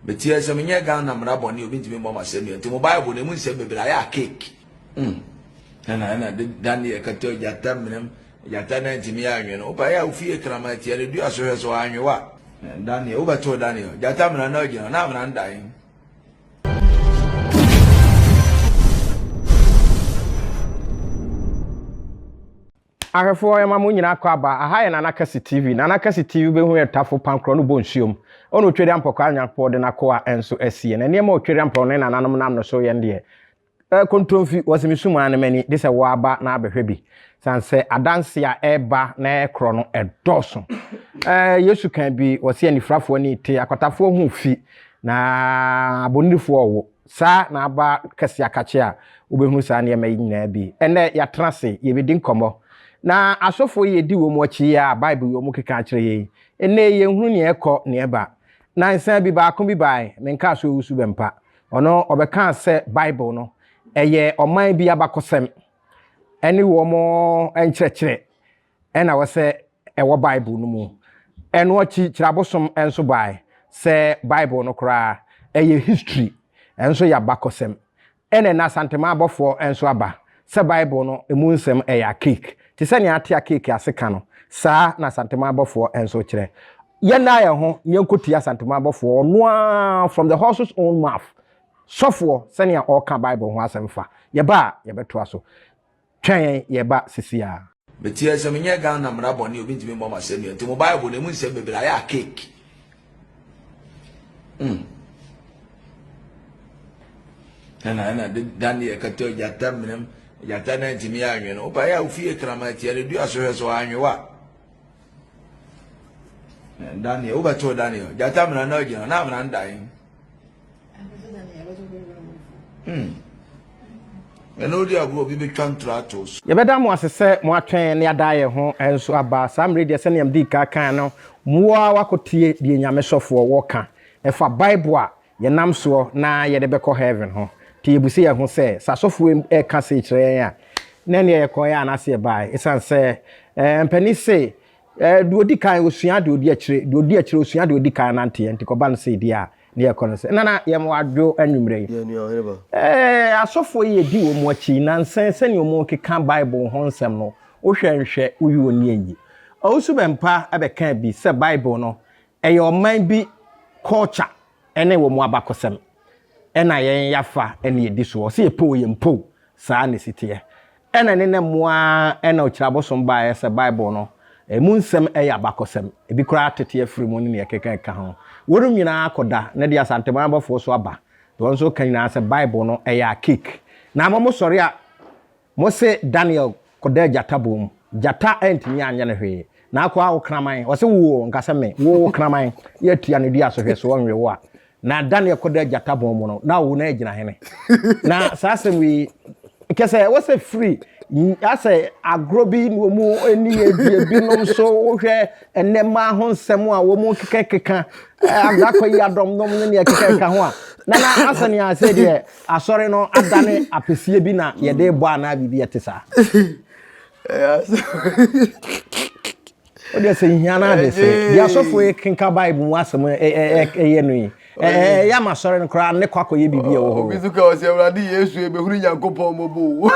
Meteɛ sɛ menyɛ Ghana mmara bɔne obi ntumi mmɔ m'asɛnnua nti mo Bible no ɛmu nsɛm bebree ayɛ a cake. Mm. Ɛna ɛna de Daniel kata gyata mmerɛm gyata na ntumi anwe no wopa yɛ a wofie krama atia no dua so hwɛ so anwe wa. Daniel wobɛtoo Daniel gyata mmara na agyina na amena ndae. Ahwɛfoɔ yɛma mo nyinaa kɔ aba, aha yɛ Nana Kɛse TV, Nana Kɛse TV wobɛhu yɛn tafo pankorɔ no bɔ nsuom, ɔne Otweri Ampɔkɔ a Nyankopɔn de n'akoa nso asie, na nneɛma a Otweri Ampɔkɔ ne nananom nam no so yɛn deɛ, eh, kontomfi, wɔse mesum ara ne m'ani, gyesɛ wo ara ba na abɛhwɛ bi, sane sɛ adanseɛ a ɛreba na ɛrekorɔ no ɛdɔɔso, eh, Yesu kaa bi, ɔse anifirafoɔ ani rete, akwatafoɔ ho refi, na abonirifoɔ rewo. Saa na aba kɛse akakye a wobɛhunu saa nneɛma yi nyinaa bi. Ɛnnɛ, yɛatena ase, yɛbɛdi nkɔmmɔ. Na asɔfoɔ yi yɛdi wɔn akyi yi a Bible yi wɔn keka akyerɛ yɛn yi, ɛnnɛ yi yɛnhunu nea ɛkɔ, nea ɛba. Nansa bi baako bi bae, menkaa sɛ ɔwusu Bɛmpa. Ɔno, ɔbɛkaa sɛ Bible no, ɛyɛ ɔman bi abakɔsɛm ɛne wɔn nkyerɛkyerɛ. na ɛwɔ sɛ ɛwɔ Bible no mu. Ɛno akyi kyerɛ abosom nso bae. Sɛ Bible no koraa, ɛyɛ history, ɛnso yɛ abakɔsɛm. Ɛna ɛnnɛ Asantema abɔfoɔ nso aba sɛ Bible no mu nsɛm ɛyɛ akeek. Te sɛ nea ate akeek ase ka no, saa na Asantema abɔfoɔ nso kyerɛ. Yɛnna yɛn ho na yɛnkɔtie Asantema abɔfoɔ, ɔno ara from the horse's own mouth, sɔfoɔ, sɛnea ɔreka Bible ho asɛm fa. Yɛba a, yɛbɛtoa so. twɛn yɛ ba sisi a. Mete ase menyɛ Ghana mmara bɔne obi ntumi mmɔ m'asɛnnua nti mo Bible no emu nsɛm bebree ayɛ a cake. Mm. Ɛna ɛna de Daniel kata gyata mmerɛm gyata na ntumi anwe no. Wopa yɛ a wofie kraman tia no dua so hwɛ so anwe wa. Daniel wobɛtoo Daniel gyata mmara na agyina na amena ndae. Hmm. ɛna wodi agorɔ obi bɛtwa ntorɔ ato so yɛbɛda mo ase sɛ moatwɛn ne adaeɛ ho nso aba saa mmerɛ deɛ sɛnea mede ka kan no moa wakɔtie deɛ nyame sɔfoɔ wɔka ɛfa bible a yɛnam soɔ na yɛde bɛkɔ heaven ho nti yɛbu sɛ yɛho sɛ sɛ asɔfoɔ ɛka sei kyerɛ yɛn a na ɛneɛ yɛkɔɛ anaasɛ yɛbae ɛsiane sɛ eh, mpani se eh, deɛ ɔdi kan ɔsua deɛ ɔdi akyire deɛ ɔdi akyire ɔsua deɛ ɔdi kan nanteɛ nti kɔba no sɛ ɛdi a Ne yɛkɔ no sɛ, Nana, yɛn mmoa adwo anwummerɛ yi. Yɛn nua ɔhene ba. Ɛɛ, asɔfoɔ yi adi wɔn akyi yi, nansa yi, sɛnea wɔrekeka Bible ho nsɛm no, wohwɛ nhwɛ, woyi wɔn ani ayi. Owusu Bempah bɛkaa bi sɛ Bible no, ɛyɛ ɔman bi culture ne wɔn abakɔsɛm, ɛnna yɛn yɛafa na yɛdi soɔ. Ɔse yɛpɛ o, yɛmpɛ o, saa na ɛsi teɛ. Ɛna ne nnɛ mu ara na Okyiri Abosom baeɛ sɛ Bible no, ɛmu nsɛm yɛ abakɔsɛm, ebi koraa tete afiri mu ne nea ɛkeka ɛka ho. Wɔnom nyinaa akɔ da, na ɛde Asanteman abɔfoɔ so aba, deɛ wɔn nso ka nyinaa sɛ Bible no yɛ archaic. Na mo mo sɔre a mo se Daniel kɔdaa gyata bɔn mu, gyata antumi anyɛ no hwee, na akɔ a wo kraman, ɔse woo, nka sɛ me, woo wo kraman, yɛ tua no dua so hwɛ so ɔnwe wo a, Na da no yɛkɔ da gyata bɔn mu no, na awo na ɛgyina hene. Na saa asɛm yi, kɛsɛ ɛwɔ sɛ firi asɛ agorɔ bi na wɔn ani adie binom so wohwɛ nnɛma ho nsɛm a wɔn kekɛkeka agakɔ yi adɔm nom ne nea kekɛkeka ho a na na asɛ nea sɛ deɛ asɔre no adane apɛsie bi na yɛde bɔ anaa biribi ɛte saa. o deɛ sɛ hia no ade sɛ deɛ asɔfoɔ yi kenka bible mu asɛm ɛyɛ no yi ɛyɛ ama sɔre no koraa ne kɔ akɔyɛ biribi ɛwɔ hɔ obi so ka ɔsɛ awurade yesu ɛbɛhunu nyankopɔn mmɔbɔ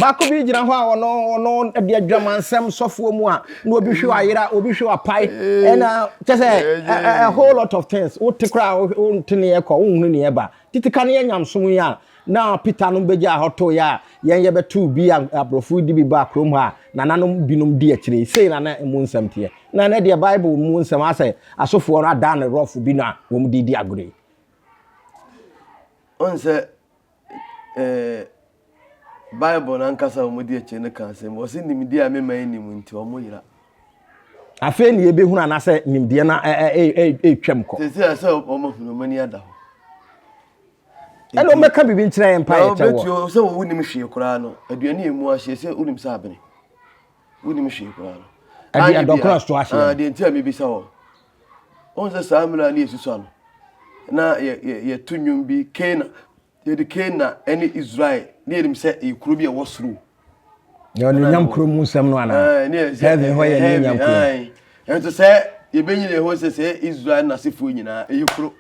baako bi gyina hɔ a ɔno ɔno ɛde adwamansɛm sɔfoɔ mu a na obi hwe ayera obi hwe apae ɛna kyɛ sɛ a whole lot of things wote koraa wonte ne ɛkɔ wonhunu ne ɛba titi ka ne yɛ nyamsom yi a Na Peter nom begyaa hɔ tooe a yɛn yɛbɛtoo bi a aborɔfo redi bi baa kurom hɔ a nananom binom di akyire yi. Sei na na emu nsɛm teɛ. Na ɛnnɛ deɛ Bible mu nsɛm ara sɛ asɔfoɔ no adan no rɔfo bi no a wɔn de redi agorɔ yi. Ɔn sɛ eh, Bible no ankasa a wɔn di akyire no ka asɛm. Wɔsi nimdeɛ a mema yi nim nti wɔn yera. Afei ne yɛbɛhunu anaasɛ nimdeɛ no ɛretwam kɔ. Sɛ sɛ sɛ wɔn ahunu wɔn ani ada hɔ. ɛna ɔmɛka biribi nkyerɛ yɛn mpaeɛ kyɛ wɔ. na sɛ wo nim hwee koraa no aduane yɛ mu ahyeɛ sɛ wonim sɛ abene wonim hwee koraa no ɛde adɔkora so ahyeɛ ah, deɛ nti a mebisa wɔ wɔn sɛ saa mmerɛ ne yɛsusua no na yɛto nnwom bi kana yɛde kana ne israel ne yɛnim sɛ ɛyɛ kuro bi a ɛwɔ soro yɛ ɔnuonyam kuro mu nsɛm no anaa heaven hɔ yɛ nuonyam kuro ɛnso sɛ yɛbɛnyina ɛhɔ sɛ sɛ israel nasefoɔ nyinaa ɛyɛ kuro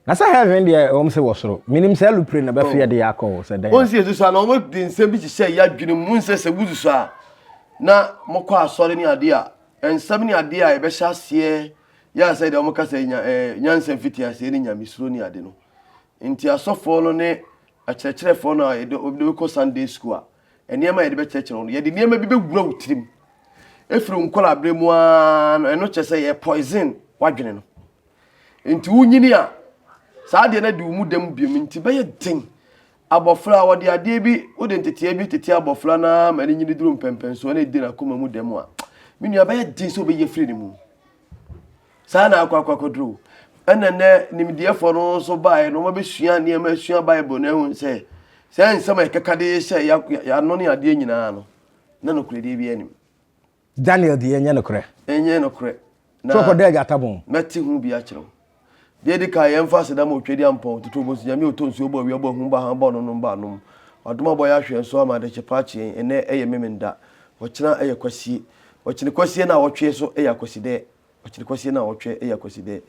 Na sɛ heaven deɛ ɛwɔm sɛ wɔ soro menim sɛ lupre na bɛfe yɛde yɛ akɔ o sɛ dɛn. Onse yɛsusu a na ɔmo de nsɛm bi hyehyɛ yɛ adwenem mu nsɛ sɛ wususu a na mokɔ asɔre ne adeɛ a nsɛm ne adeɛ a yɛbɛhyɛ aseɛ yɛ ansa yɛde ɔmo ka sɛ nya ɛɛ nyansa mfitiaseɛ ne nyamesuro ne ade no nti asɔfoɔ no ne akyerɛkyerɛfoɔ no a yɛde ɔmo bɛkɔ Sunday school a nneɛma a yɛde bɛkyerɛkyerɛ wɔn no yɛde nneɛma bi bɛwura wo tirim efiri wo nkɔlaa berɛ mu aa no ɛno kyerɛ sɛ yɛ poison w'adwene no. Enti wunyin a, saa adeɛ no adi wo mu dɛm bio. Enti ɛbɛyɛ den. Abɔfra a, wɔde adeɛ bi, wode nteteɛ bi tete abɔfra no ara ma no nyini duru mpɛnpɛnsoɔ na ɛdi n'akoma mu dɛm a, me nua, ɛbɛyɛ den sɛ wobɛyi afiri ne mu. Saa na akɔ akɔ akɔduru wo. Ɛna nnɛ nimdeɛfoɔ no nso baeɛ no, wɔbɛsua nneɛma asua Bible no ahu sɛ saa nsɛm a ɛkeka de hyɛ yɛn ano ne adeɛ nyinaa no, na nokorɛdeɛ biara nim. Daniel deɛ ɛnyɛ nokorɛ. Ɛnyɛ nokorɛ. So ɔkɔ dɛ gyata bon. Mɛte ho bi akyerɛ wo. Deɛ ɛdi kan yɛn fa aseda ma Otwadi Ampɔn, Tutu Obosu, Nyame a ɔtɔ nsuo, ɔbɔ awia, ɔbɔ ahum, bɔ hann, bɔ anonom, bɔ anom. Wadom abɔ yɛn ahwɛ nso ama adekye pa akye yɛn. Ɛnnɛ yɛ Memenda. Ɔkyena yɛ Kwasie. Ɔkyene Kwasie na awɔtweɛ so yɛ Akwasidɛ. Ɔkyene Kwasie na awɔtweɛ yɛ Akwasidɛ.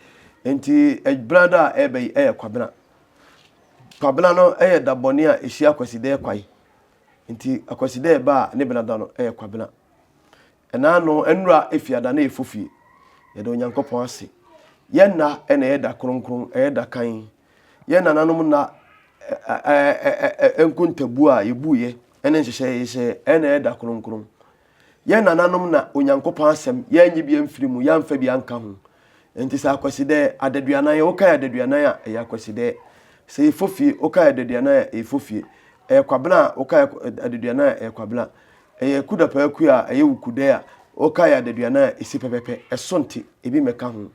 Enti Ɛbena da a ɛreba yi yɛ Kwabena. Kwabena no yɛ da bɔne a ɛhyia Akwasidɛ kwae. Ntsi Kwesida ɛba a ne benada no yɛ Kwabena. Naano nwura Efiada no yɛ Fofie. Yɛda Onyankopɔn ase. Yɛn nna na ɛyɛ da kronkron, ɛyɛ da kann. Yɛn nananom nna nkontabuo a yɛbuiɛ ne nhyehyɛɛ a yɛhyehyɛɛ na ɛyɛ da kronkron. Yɛn nananom na Onyankopɔn Asɛm, yɛannye bi amfiri mu, yɛamfa bi anka ho. Enti sɛ akwasidɛ, adaduanan, wokae adaduanan a, ɛyɛ akwasidɛ. Sɛ yɛfɔ fie, wokae adaduanan a, ɛyɛ fɔ fie. Ɛyɛ kwabena a, wokae adaduanan a, ɛyɛ kwabena. Ɛyɛ Kudapaaku a, ɛyɛ wo Kudɛ a, wokae adaduanan a, ɛsi pɛpɛpɛ. Ɛso nte, ebi mmɛka ho.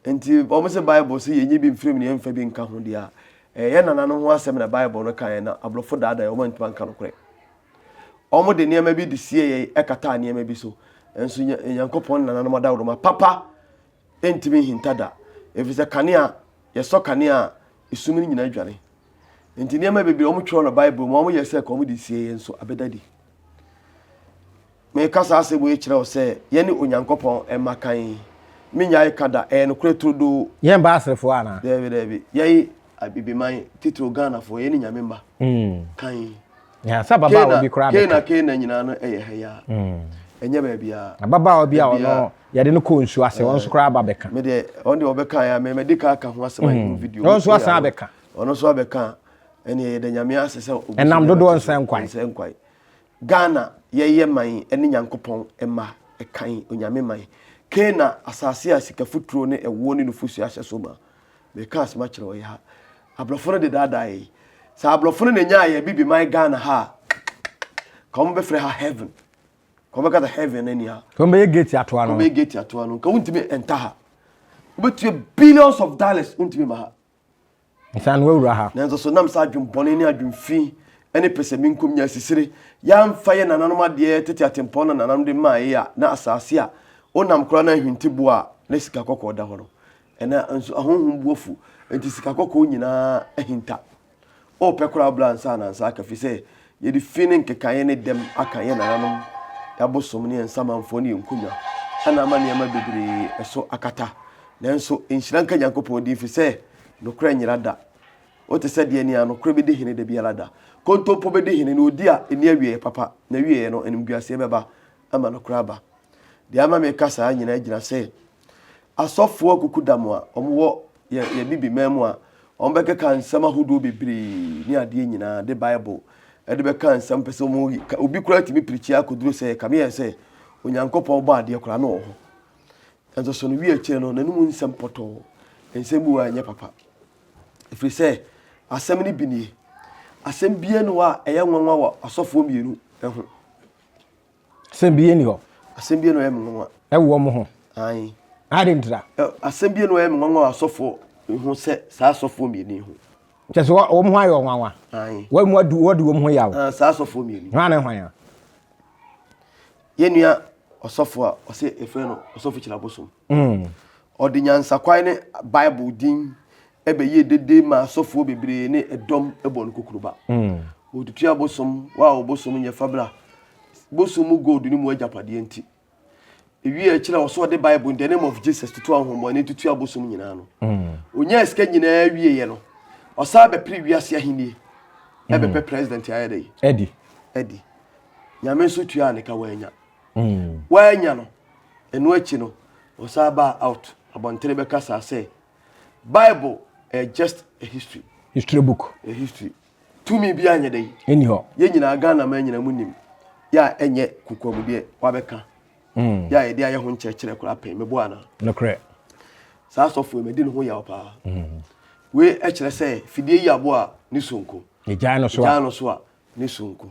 Enti wɔn se Bible se yɛnnye bi mfiri mu na yɛmfa bi nka ho deɛ a, ɛyɛ yɛn nananom ho asɛm na Bible no kaeɛ na aborɔfo daadaeɛ wɔn antumi anka nokorɛ. Wɔde nneɛma bi de sie yɛn kataa nneɛma bi so. Nanso Nyankopɔn nananom adaworoma papa ntumi nhinta da, ɛfiri sɛ kanea, yɛsɔ kanea a, esum no nyinaa dwane. Nti nneɛma bebree wɔtwerɛ no Bible mu, wɔyɛ sɛ wɔde sie yɛn nso abɛda di. Mereka saa asɛm yi kyerɛ wo sɛ yɛne Onyankopɔn mma kan. Mennyae ka da, ɛyɛ nokorɛ turodoo. Yɛn mba Aserefoɔ anaa? Daabi, daabi. Yɛn Abibiman, titiriw Ghanafoɔ, yɛne Nyame mma kan. Yeah, sɛ ababaawa bi koraa bɛka. Kena, Kena nyinaa no ɛyɛ ha yi ara. Ɛnyɛ baabiara. Ababaawa bi a ɔno yɛde no kɔɔ nsuo ase, ɔno nso koraa aba bɛka. Me deɛ, ɔno deɛ ɔbɛkaeɛ a, me, madi kan aka ho asɛm ayɛ ho video. Ɔno nso asan abɛka. Ɔno nso abɛka a, ɛnneɛ yɛda Nyame ase sɛ ɔgu so de abɛto so. Ɛnam dodoɔ nsɛnkwae. Nsɛnkwae. Ghana yɛyɛ man ne Nyankopɔn mma ɛkan Onyame man Canaan asase a sika futuro ne ɛwoɔ ne nufosuo ahyɛ so ma Mereka asɛm akyerɛ wo ɛyɛ ha Abrɔfo no de daadaa yɛn Sɛ abrɔfo no na ɛnyaa yɛn bibi man Ghana ha a Ka wɔn bɛfrɛ ha heaven Ka wɔn bɛkasa heaven ne nea Ka wɔn bɛyɛ gate ato ano Ka wɔn bɛyɛ gate ato ano Ka wɔn ntumi nta ha Wobɛtua billions of dollars Wontumi ma ha Nsan w'awura ha. Nanso so na mesa adwembɔne ne adwemfi ne pɛsɛmenkomnya asisire yɛamfa yɛ nananom adeɛ tete atempɔn na nananom de maae a na asaase a wonam koraa na ahwinti boɔ a na sika kɔkɔɔ da hɔ no ɛna nso ahonhom bu afu enti sika kɔkɔɔ nyinaa ahinta O pɛ koraa bla nsa ana nsa aka fi sɛ yɛde fi ne nkekaeɛ ne dɛm aka yɛn nananom abosom ne yɛn nsamanfoɔ ne yɛn nkonwa ɛna ama nneɛma bebree ɛso akata nanso nhyira nka Nyankopɔn din fi sɛ nokorɛ nyera da wote sɛ deɛ nea nokorɛ bɛdi hene da biara da kontompo bɛdi hene na ɔdi a ɛni awieɛ papa na wieɛ no animguaseɛ bɛba ama nokorɛ aba deɛ ama meka saa nyinaa gyina sɛ Asɔfoɔ akukudam a wɔwɔ yɛn Abibiman mu a wɔbɛkeka nsɛm ahodoɔ bebree ne adeɛ nyinaa de Bible de bɛka nsɛm pɛ sɛ wɔyi ka obi koraa tumi pirikyi akɔduru sɛ ɛkame yɛn sɛ Onyankopɔn bɔ adeɛ koraa no wɔ hɔ nanso so no wie akyire no n'anom nsɛm pɔtɔɔ nsɛm bi wɔ a ɛnyɛ papa ɛfiri sɛ asɛm no bi nie asɛm biara ni hɔ a ɛyɛ nwanwa wɔ asɔfoɔ mmienu ho Asɛm bie ni hɔ. Asɛm bie na ɔyɛ me nwanwa. Ɛwɔ ɔmo ho. Ayi. Adi ntira. Asɛm bie na ɔyɛ me nwanwa asɔfoɔ ho sɛ saa asɔfoɔ mmienu yi ho. Kyɛ sɛ wɔn ho ayɛ ɔnwanwa. Ayi. Wɔn mu adu wɔdi wɔn ho yaw. Ah, saa asɔfoɔ mmienu. Hwan na hwan ya? Yɛn nua ɔsɔfoɔ a ɔsɛ efrɛ no ɔsɔfo kyerɛ abosom. Ɔde nyansakwan ne Bible din bɛyɛɛ dede maa asɔfoɔ bebree ne ɛdɔm bɔɔ no kukuruba. Wɔtutua bosom wɔ a ɔbosom nyɛ fabra bosom mu gold no mu agyapadeɛ nti. Ewie a ɛkyerɛ ɔso ɔde Bible In the Name of Jesus toto ahonhommɔne tutua bosom nyinaa no. Ɔnyaa sika nyinaa wieeɛ no, ɔsan bɛpere wiase ahennie ɛbɛpɛ president ayɛ dɛ? Adi. Adi. Nyame nso tuaa ne ka wannya. woannya no ɛno akyi no ɔsan baa out abɔntene bɛkasaa sɛ bible ɛyɛ just a history history book a history tumi bi anyɛ dɛ ɛni hɔ yɛ nyinaa ghana ma nyina mu nim yɛ a ɛnyɛ kukua mu deɛ wabɛka mm. yɛ a yɛde ayɛ ho nkyerɛkyerɛ koraa pɛn mɛbɔ ana nokorɛ saa asɔfoɔ mɛdi ne ho yaw paa mm. wei ɛkyerɛ sɛ fidie yi aboa ne sonko yɛgyae no so a ne sonko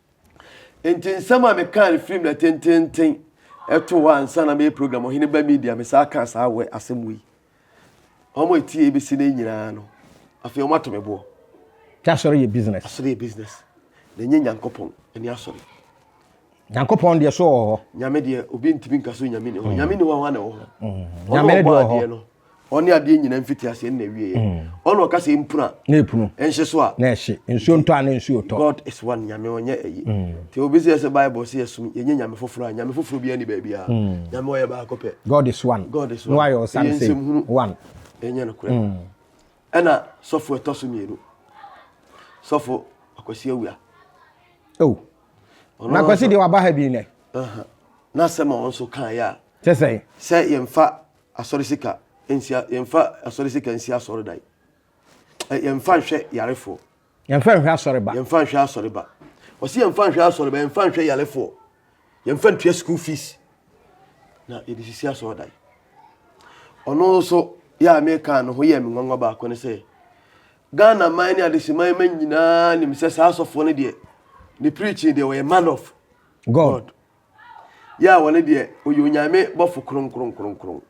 Enti nsɛm a mekaa no firim na tenteenten ɛto hɔ ansa na meyɛ program Ɔhene Ba Media, mesaa kaa saa wɛ asɛm wei. Wɔn a etie ebesi nnɛ nyinaa no, afei wɔn ato me boɔ. Nti asɔre yɛ business? Asɔre yɛ business, na ɛnyɛ Nyankopɔn ɛne asɔre. Nyankopɔn deɛ so ɔwɔ hɔ. Nyame deɛ obi ntumi nka so Nyame ni hɔ. Nyame ni hɔ a hwan na ɛwɔ hɔ? Ɔno ɔbɔ adeɛ no. ɔne adeɛ nyina mfiti aseɛ nna awieɛ mm. ɔne ɔka sɛ mpunu a na ɛpunu ɛnhye so a na ɛhye nsuo ntɔ a na nsuo tɔ god is one nyame ɔnyɛ ɛyi mm. nti obi sɛ sɛ bible sɛ yɛsom yɛnyɛ nyame foforɔ a nyame foforɔ biara ni baabi a mm. nyame ɔyɛ baako pɛ god is one god is one no ayɛ ɔsan sɛ nsɛm hunu one ɛnyɛ no korɛ ɛna sɔfo ɛtɔ so mmienu sɔfo akwasi awia oh na akwasi deɛ waba ha bi nɛ na sɛm a ɔno nso kan yɛ a kyɛ sɛ sɛ yɛmfa Asɔre sika nsi a yɛmfa asɔre sika nsi asɔredan. Yɛmfa nhwɛ yarefoɔ. Yɛmfa nhwɛ asɔreba. Yɛmfa nhwɛ asɔreba. Ɔsi yɛmfa nhwɛ asɔreba, yɛmfa nhwɛ yarefoɔ. Yɛmfa ntua school fees. Na yɛde sisi asɔredan. Ɔno nso yɛ a meka no ho yɛ me nwanwa baako ne sɛ Ghana man ne adeseman ma nyinaa nim sɛ saa asɔfoɔ no deɛ ne preaching deɛ wɔyɛ man of God. God. yɛ a wɔne deɛ ɔyɛ onyame bɔfo kronkronkronkron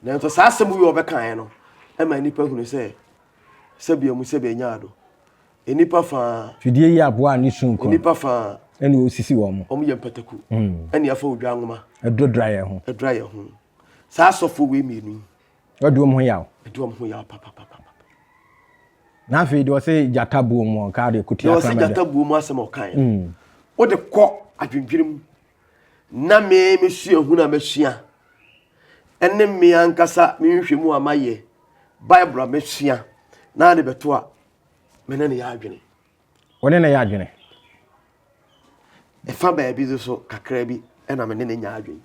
nanso saa asɛm yi ɔbɛkaeɛ no ɛma nnipa hunu sɛ sɛbea mu sɛbea nya ado nnipa faa fidie yi aboa ne su nko nnipa faa ɛne ɔsisi wɔn mo wɔn yɛ mpataku ɛne afa odwa nwoma ɛdodra yɛn ho ɛdodra yɛn ho saa asɔfoɔ wei mmienu yi Ɔdi wɔn ho yaw. Ɔdi wɔn ho yaw papapapa. Na afei deɛ ɔsɛ gyata buo mu ɔka deɛ kuti akrama deɛ. Deɛ ɔsɛ gyata buo mu asɛm ɔka yɛ. Mm. O de kɔ adwendwene mu. Na me me sua hu na masua. Ɛne me ankasa me nhwɛ mu a mayɛ. Bible a masua. Na de bɛto a me ne ne yɛ adwene. Wo ne no yɛ adwene? Ɛfa baabi no so kakra bi na me ne no nya adwene.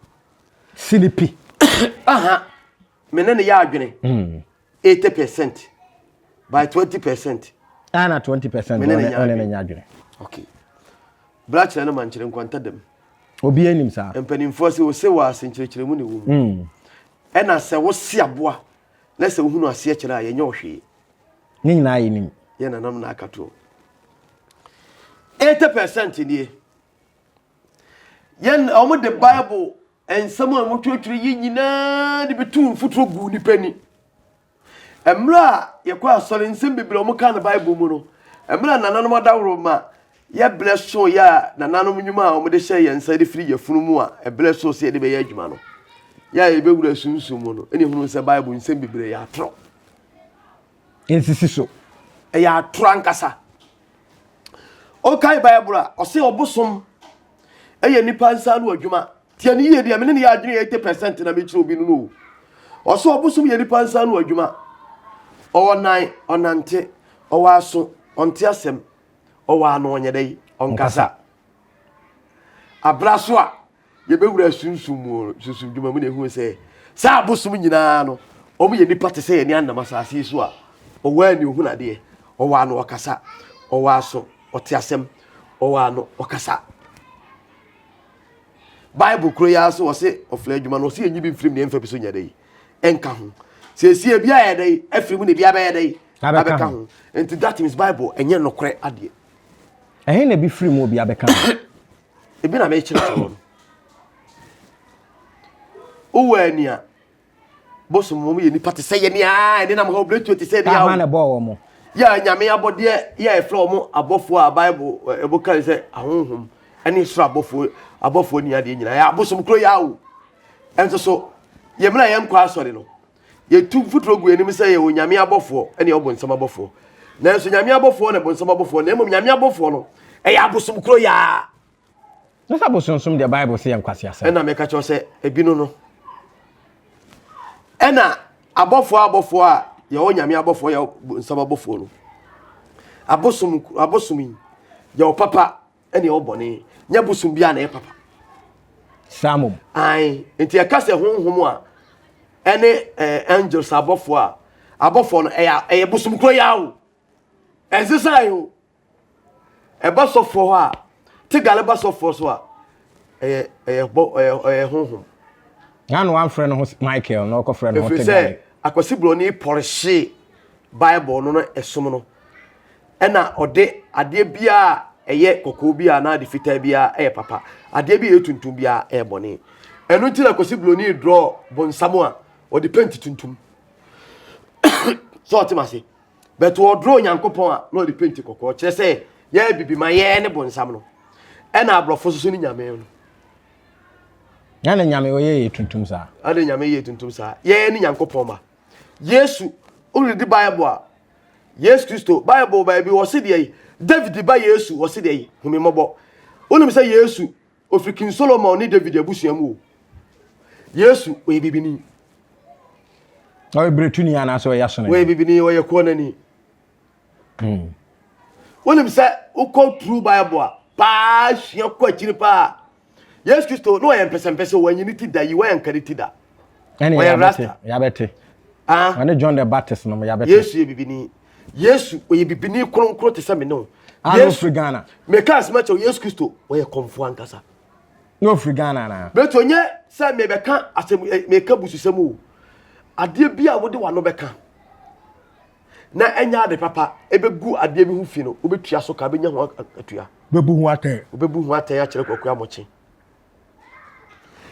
Sini pi. Aha, me ne no yɛ adwene. Hmm. Eighty percent by twenty percent. Ana twenty percent me ne no nya adwene. Okay. Bra kyerɛ no ma nkyerɛ nkwanta dam. Obi anim saa. Mpanimfoɔ sɛ wɔsɛ wɔ ase nkyerɛkyerɛ mu ne wɔ mu. Hmm. Ɛna sɛ wɔsi aboa na sɛ wohunu aseɛ kyerɛ a yɛnyɛ ɔhwee. Ne nyinaa yɛ nim. Yɛ nanam na aka to. Eighty percent nie. Yɛn wɔn de Bible nsɛm a wɔtwerɛtwerɛ yi nyinaa de bɛtu mfuturo gu nipa ni. Mmerɛ a yɛkɔ asɔre nsɛm bebree a wɔka no Bible mu no, mmerɛ a nananom adaworo ma yɛbrɛ so yɛ a nananom nnwuma a wɔde hyɛ yɛn nsa de firi yɛfunu mu a ɛbrɛ so sɛ yɛde bɛyɛ adwuma no yɛ a yɛbɛwura sunsum mu no ɛne hunu sɛ Bible nsɛm bebree yɛ atorɔ. nsisi so. Ɛyɛ atoro ankasa. Ɔkae Bible a, ɔse ɔbosom ɛyɛ nipa nsa ano adwuma. Tiɛ ne yie deɛ, mene ne yɛ adwene 80% na mekyerɛ obi no no. Ɔse ɔbosom yɛ nipa nsa ano adwuma. Ɔwɔ nan, ɔnante, ɔwɔ aso, ɔnte asɛm, ɔwɔ ano, ɔnyɛ dɛ, ɔnkasa. Abra so a, Yɛbɛwura sunsum mu, sunsum dwuma mu na ɛhunu sɛ saa abosom nyinaa no, wɔn yɛ nipa te sɛ yɛne anam asase yi so a ɔwɔ ani ohun adeɛ, ɔwɔ ano ɔkasa, ɔwɔ aso ɔte asɛm, ɔwɔ ano ɔkasa. Bible kuro yɛ aso ɔse ɔfla adwuma no ɔse yɛnyi bi mfirim na yɛmfa bi so nyɛ dɛ yi ɛnka ho. Sɛ ɛsi ebi ayɛ dɛ yi afiri mu na ebi abɛyɛ dɛ yi abɛka ho. Nti that means Bible ɛnyɛ nokorɛ adeɛ. Ɛhe na ebi firi mu obi abɛka ho? ebi na mekyerɛkyerɛ wɔn wowɔ ani a bosom wɔn yɛ nipa te sɛ yɛ nea ɛne nam ha obiretuo te sɛ ɛne awo na ɛbɔɔ wɔn mo yɛ nyame abɔdeɛ yɛ a ɛfrɛ wɔn abɔfoɔ a bible ɛbo kan sɛ ahonhom ɛne soro abɔfoɔ abɔfoɔ ni adeɛ nyinaa yɛ abosom kuro yɛ awo ɛnso so yɛ mmerɛ yɛn nkɔ asɔre no Yɛtu mfuturo gu anim sɛ yɛwɔ nyame abɔfoɔ ne ɔbonsam abɔfoɔ. Nanso nyame abɔfoɔ na bonsam abɔfoɔ na mmom nyame abɔfoɔ no ɛyɛ abosom koro yaa. Na sɛ abosonsom deɛ Bible sɛ yɛ nkwaseasɛm. Ɛna meka kyerɛ sɛ ebinom no ɛna abɔfoɔ abɔfoɔ a yɛwɔ nyame abɔfoɔ yɛ bonsam abɔfoɔ no abosom abosom yi yɛwɔ papa ɛne ɛwɔ bɔne nyɛ bosom biara na ɛyɛ papa saa mom ae nti ɛka sɛ honhom a ɛne eh, angels abɔfoɔ a abɔfoɔ no ɛyɛ ɛyɛ bosom koro yɛ o ɛnse saa o ɛba sɔfoɔ hɔ a te gale ba sɔfoɔ so a ɛyɛ ɛyɛ bɔ ɛyɛ ɛyɛ honhom na no amfrɛ no ho michael na ɔkɔfrɛ no ho te gale ɛfiri sɛ akwasi buroni pɔrehye bible no no ɛsom no ɛna ɔde adeɛ biara a ɛyɛ kɔkɔɔ biara anaa ade fitaa biara ɛyɛ papa adeɛ bi a ɛyɛ tuntum biara ɛyɛ bɔne ɛno nti na kɔsi buroni drɔ bonsam a ɔde penti tuntum sɛ ɔte ma se but ɔdrɔ onyankopɔn a na ɔde penti kɔkɔɔ kyerɛ sɛ yɛyɛ bibi ma yɛyɛ ne bonsam no ɛna aborɔfo soso ne nyame no na ne nyame ɔyɛ yɛ tuntum saa ɛna nyame yɛ tuntum saa yɛyɛ ne nyankopɔn ma yesu wode di bible a Yesu Kristo. Bible baabi wɔ se deɛ David ba Yesu wɔ se deɛ hu me mmɔbɔ. Wonim sɛ Yesu ofiri King Solomon ne David abusua mu o. Yesu ɔyɛ bibini. Ɔyɛ biretuni anaasɛ ɔyɛ asonani? Ɔyɛ bibini, ɔyɛ kɔnani. Hmm. Wonim sɛ wokɔ true Bible a paa sua kɔ akyiri paa. yesu kristo na ɔyɛ mpɛsɛmpɛsɛ wɔanyi ne ti da yi wɔanka ne ti da ɔyɛ rasta yabɛte ah. ɔne john the baptist nom yabɛte yesu yɛ bibini yesu ɔyɛ bibini kronkron te sɛ me ne wo yesu ghana meka asɛma kyɛw yesu kristo ɔyɛ kɔmfoɔ ankasa na ɔfiri ghana na bɛti ɔnyɛ sɛ mebɛka asɛm eh, meka bususɛm o adeɛ bi a wode wano bɛka na ɛnyɛ ade papa, ɛbɛgu adeɛ bi ho fi no, wobɛtua so ka, bɛnya ho atua. Wobɛbu ho atɛn. Wobɛbu ho atɛn akyerɛ kwaku amokye.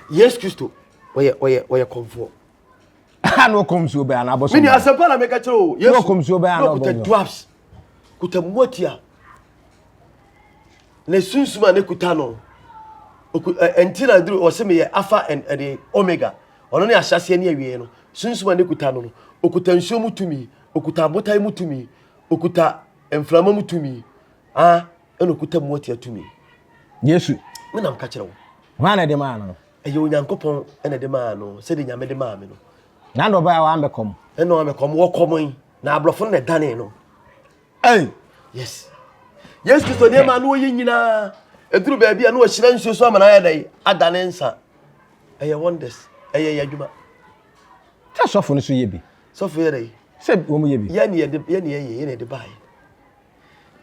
Yesu Kristo, ɔyɛ ɔyɛ ɔyɛ kɔmfoɔ. Ha na ɔkɔm suo bɛn anaa bɔsɔm. Mini asɛmpa na meka kyerɛ o. Yesu na ɔkɔm suo bɛn anaa ɔbɛn. Kuta dwarfs, kuta muatia. Na sunsum a ne kuta no, ɛnti na duru ɔsɛ meyɛ alpha and ɛde omega. Ɔno ne ahyɛaseɛ ne awieɛ no. Sunsum a n'ekuta no no, okuta nsuo mu tumi, okuta abotan mu tumi, okuta mframa mu tumi, ah, ɛna okuta mmoatia tumi. Yesu. Me nam ka kyerɛ wo. Hwan na ɛde maa no? Ɛyɛ Onyankopɔn na ɛde maa no, sɛdeɛ Nyame de maa me no. Na na ɔbaa a wɔambɛkɔm. Ɛna wɔambɛkɔm, wɔkɔmɔe, na aborɔfo no na ɛdanee no. Ɛn, yes. Yesu Kristo nneɛma a na ɔyɛ nyinaa, ɛduru baabi a na ɔhyerɛ nsuo so ama no ayɛ dɛn ada ne nsa. Ɛyɛ wonders, ɛyɛ yɛ adwuma. Sɛ sɔfo no so yɛ bi. Sɔfo yɛ dɛn? Sɛ wɔn yɛ bi. Yɛ ne yɛde yɛ ne yɛ yɛ yɛ ne yɛde baayɛ.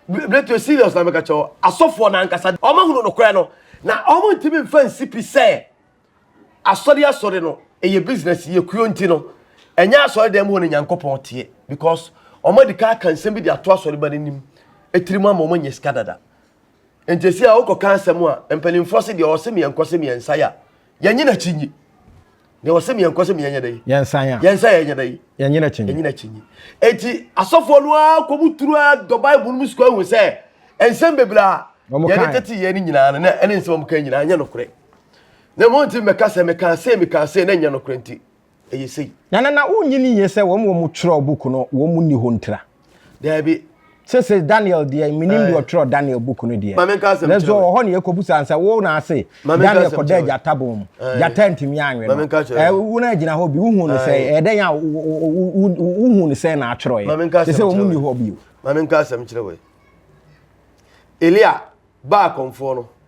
Breto serious na meka kyɛw asɔfoɔ na ankasa wɔn ahunu nokorɛ no na wɔn ntumi nfa nsi pi sɛ Asɔre asɔre no ɛyɛ business yɛ kuo nti no ɛnyɛ asɔre dɛm hɔ na Nyankopɔn teɛ because wɔn adika aka nsɛm bi de ato asɔre ba no anim ɛtiri mu ama wɔn anya sika dada nti ɛsi a wokɔ ka asɛm a mpanimfoɔ se deɛ ɔse meɛ nkɔ se meɛ nsa ya yɛnye na kyi nyi deɛ ɔse meɛ nkɔ se meɛ nyɛ dɛ yi yɛnsa ya yɛnsa ya yɛnyɛ dɛ yi yɛnye na kyi nyi yɛnye na kyi nyi ɛti asɔfoɔ no a kɔ mu turu a dɔ bible no mu sukɔ ahu sɛ nsɛm bebree a yɛde tete yɛ ne nyinaa no na ɛne nsɛm a wɔn ka nyinaa nyɛ nokorɛ Na mo nti mɛka sɛ mekaa sei mekaa sei na ɛnyɛ nokorɛ nti ɛyɛ sei. Na na na wonnye no yie sɛ wɔn a wɔtwerɛɛ book no wɔn nni hɔ ntira. Daabi. Sese Daniel deɛ menim deɛ ɔtwerɛ Daniel book no deɛ. Maame nka asɛm kyerɛ wo. Nanso ɔhɔ ne ɛkɔbusa nsɛ wo na ase Daniel kɔda agyata bɔn mu. Gyata ntumi anwe no. Wo na gyina hɔ bi wohu no sɛ ɛyɛ dɛn a wohu no sɛ na atwerɛeɛ. Sese wɔn nni hɔ bio. Maame nka asɛm kyerɛ wo. Elia baa akɔmfoɔ no.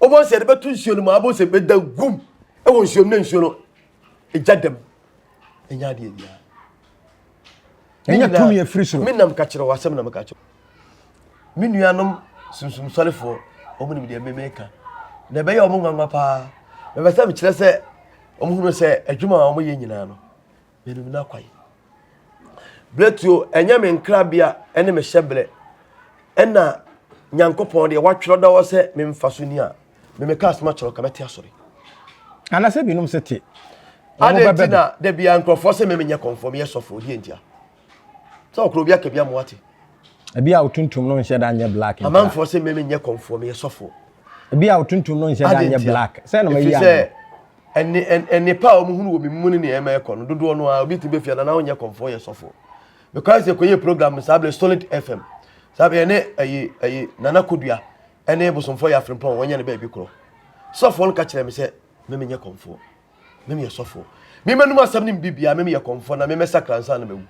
wobɛhu sɛ yɛde bɛto nsuo no mu abɛhu sɛ bɛda gum wɔ nsuo no na nsuo no ɛgya dam ɛnya adeɛ biara ɛnya tumi afiri soro me nam ka kyerɛ wɔ asɛm na meka kyerɛ me nuanom sunsum sɔrefoɔ wɔn nim deɛ memeka na ɛbɛyɛ wɔn nwanwa paa mepɛ sɛ mekyerɛ sɛ wɔhunu sɛ adwuma a wɔyɛ nyinaa no Menim n'akwan. Berɛtuo, ɛnyɛ me nkrabea ne me hyɛberɛ, ɛna Nyankopɔn deɛ watwerɛ da hɔ sɛ memfa so ni a, me meka asɛm akyerɛ ka mɛte asɔre. Anasɛ binom sɛ te. Adɛn nti na da biara nkurɔfoɔ sɛ me menyɛ kɔmfoɔ meyɛ sɔfoɔ deɛ ntia? Sɛ ɔkorɔ obi aka bi ama wate. Ebi a wotuntum no nhyɛ da nyɛ black ntia. Amanfoɔ sɛ me menyɛ kɔmfoɔ meyɛ sɔfoɔ. Ebi a wotuntum no nhyɛ da nyɛ black. Sɛ na mayi ano. ɛne nnepa a wɔhunu wɔ me mu ne nea ɛma ɛkɔ no dodoɔ no ara obi tumi bɛfia na na wonyɛ kɔmfoɔ yɛ sɔfoɔ mekɔa sɛ kɔyɛ program no saa berɛ solid fm saa berɛ ɛne ɛyi ɛyi nana kodua ɛne bosomfoɔ yɛ afrempɔn wɔnyɛ no baabi korɔ sɔfoɔ no ka kyerɛ me sɛ memenyɛ kɔmfoɔ memeyɛ sɔfoɔ memɛnum asɛm ne mbibia memeyɛ kɔmfoɔ na memɛsakra nsa na mawu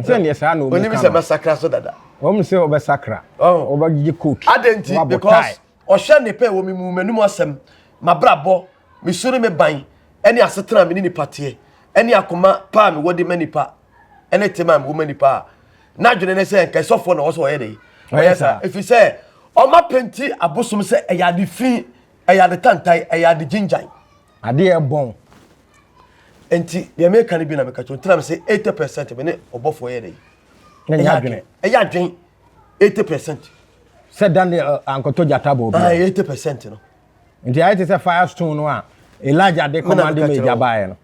sɛ neɛ saa na ɔmu ka no ɔnim sɛ mɛsakra so dada wɔn sɛ wɔbɛsakra wɔbɛgye koki adɛn nti because Ɔhwɛ ne pɛ wɔ me mu, m'anom asɛm, m'abrabɔ, me su ne me ban, ne asetena a me ne nnipa teɛ, ne akoma pa a mewɔ de ma nnipa, ne tema a mewɔ ma nnipa a n'adwene ne sɛ nka sɔfoɔ na ɔwɔ sɛ ɔyɛ dɛ. Ɔyɛ saa ɛfiri sɛ ɔma penti abosom sɛ ɛyɛ ade fi, ɛyɛ ade tantan, ɛyɛ ade gyingyan. Adeɛ ɛbɔn. Enti deɛ meka no bi na meka kyerɛ wo, nti na mese 80% me ne ɔbɔfoɔ yɛ dɛ. Ɛyɛ adwene. Ɛyɛ adwene. eighty percent. sɛ daniel eh, ankɔtɔ gyata bɔ obi ah, eighty percent no. nti ayɛ te sɛ fire stone no a elijah de kɔmande ma agya baeɛ no.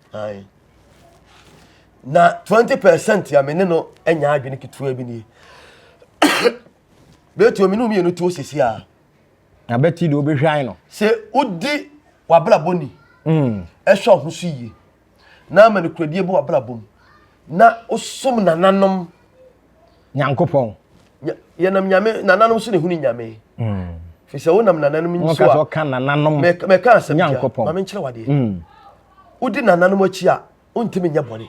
na twenty percent a me ne no anya adwene ketewa bi nie bɛtuo me ne mmienu tuo sisi a. na bɛti de wobɛhwan no. sɛ wodi wabrabɔ ni. ɛhwɛ mm. ɔho so yie. na ama nokorɛdie bɔ w'abrabɔ mu na wosom nananom nyankopɔn yɛnam nyame nananom so na ɛhunu nyame hmm. firi sɛ wonam nananom nso a mɛka asɛm bia ma menkyerɛ wadeɛ hmm. wodi nananom akyi a wontumi nyɛ bɔne